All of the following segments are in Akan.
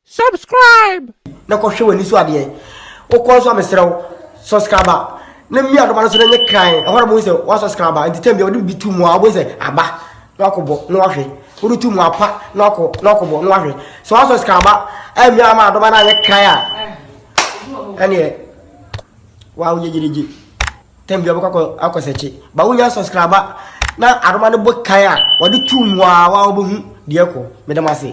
Subscribe! Na kɔhwɛ w'ani so adeɛ wokɔ nso a mesrɛ wo subscribe a na mmia adoma no so na nyɛ kran ɛhɔ na bohu sɛ wa subscribe a nti tam bia wode bi to mu a wobɛhu sɛ aba na wakɔbɔ na wahwɛ wode to mu apa na wakɔ na wakɔbɔ na wahwɛ sɛ wa subscribe a ɛmmia ama adoma no anyɛ kran a ɛneɛ wa woyɛ gyerigye tam bia wobɛkɔ akɔ sɛkye ba wonya subscribe a na adoma no bɔ kan a wode to mu a wa wobɛhu deɛ kɔ medam ase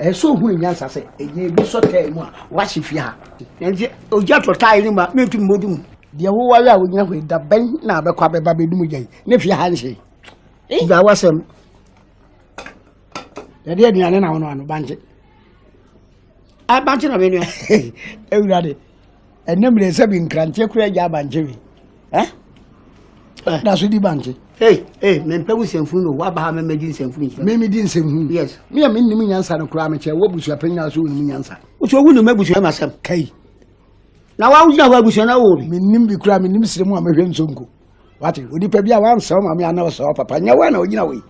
Ɛyɛ sɛ ohun nyansa sɛ ɛyɛ ebi sɔ tae mu a wɔahye fie ha. Nanso ogya tɔ tae no ma mentu mmodu mu. Deɛ woware a wogyina hɔ yi da bɛn na abɛkɔ abɛba bɛdum ogya yi ne fie ha nhye. Gya wasɛm. Yɛde aduane na wɔn ano bankye. Abankye na menua. Awurade. ɛnɛ mmerɛ sɛ bi nkranteɛ kora agya abankye we eh? eh. na so di bankye Hey, hey, me mpe nsɛmfunu no waba ha mɛmɛ di nsɛmfunu nkyerɛ. Mɛmɛ di nsɛmfunu. Yes. Mi a mi nim nyansa no koraa mi kyɛ wɔ busua pɛn nyinaa so wɔ nim nyansa. Wotu owu nim abusua ma sɛm. Kai. Na wa wogyina hɔ abusua na wo bi. Mi nim bi koraa mi nim sire mu a mɛhwɛ nsonko. wate onipa bi a wansɛ wo maame ana ɔsɛ ɔpapa nyɛ wo na ɔgyina wei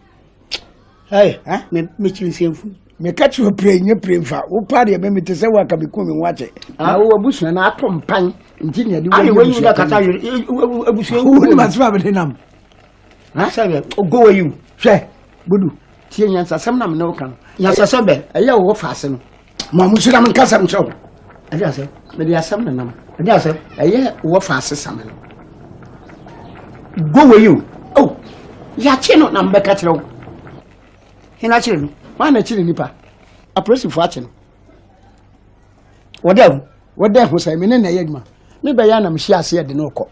mekyiri nsɛmfu meka kyerɛ pire nyɛ pire mfa wopa deɛ meme te sɛ woaka meku me ho akyɛ na wowɔ abusua no ato mpan nti neade wonim asɛm a mede nam sɛ ɔgɔwa yi hwɛ bodu tie nyansasɛm na mene woka no nyansasɛm bɛ ɛyɛ wowɔ faase no ma mo sira mo nkasɛm kyerɛ wo ɛde asɛ mede asɛm ne nam ɛde asɛ ɛyɛ wɔfa asesame no go wei o o yɛakye no na mbɛka kyerɛ wo hena kyere no maa na kyere nipa apolisifoɔ akye no wɔdɛ ho wɔdɛ ho sɛ mene na ɛyɛ adwuma mebɛyɛ anam hyia aseɛ de no kɔ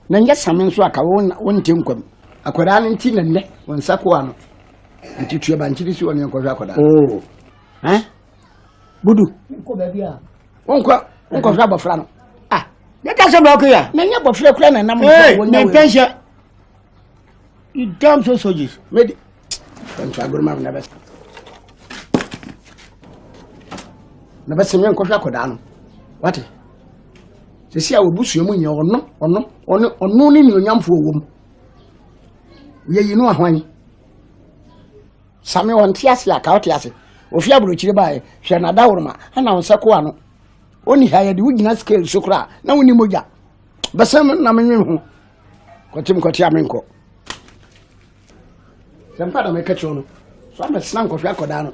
na nyɛ same nso aka wonte nkwam akwadaa no nti na nnɛ wɔn nsa koa no nti tuabankyere si wɔne nkɔhwɛ akwadaa oh. ɛn budu wonkɔ wonkɔhwɛ abɔfra no ah ne ka sɛ bɛɔko yɛ na nyɛ abɔfra kura na nam mentɛnhyɛ you damn so soldiers mede fɛnto agoroma na bɛsɛ na bɛsɛ me nkɔhwɛ akɔdaa no wate sɛsi a wɔbusua mu nyɛ ɔno ɔno ɔno ɔno ne nuonyamfoɔ wɔ mu yɛyi no ahwan Same ɔnte ase a, ka ɔte ase. Ofi aburokyire baeɛ, hwɛ n'adaworoma, ɛna wo nsa ku ano. Ɔnni ha, yɛde wo gyina scale so koraa, na wonni mogya. Bɛsɛn no na menwe ho. Kɔtem kɔte a menkɔ. Sɛ mpa na mɛka kyerɛ no, so amɛsena nkɔhwɛ akɔdaa no.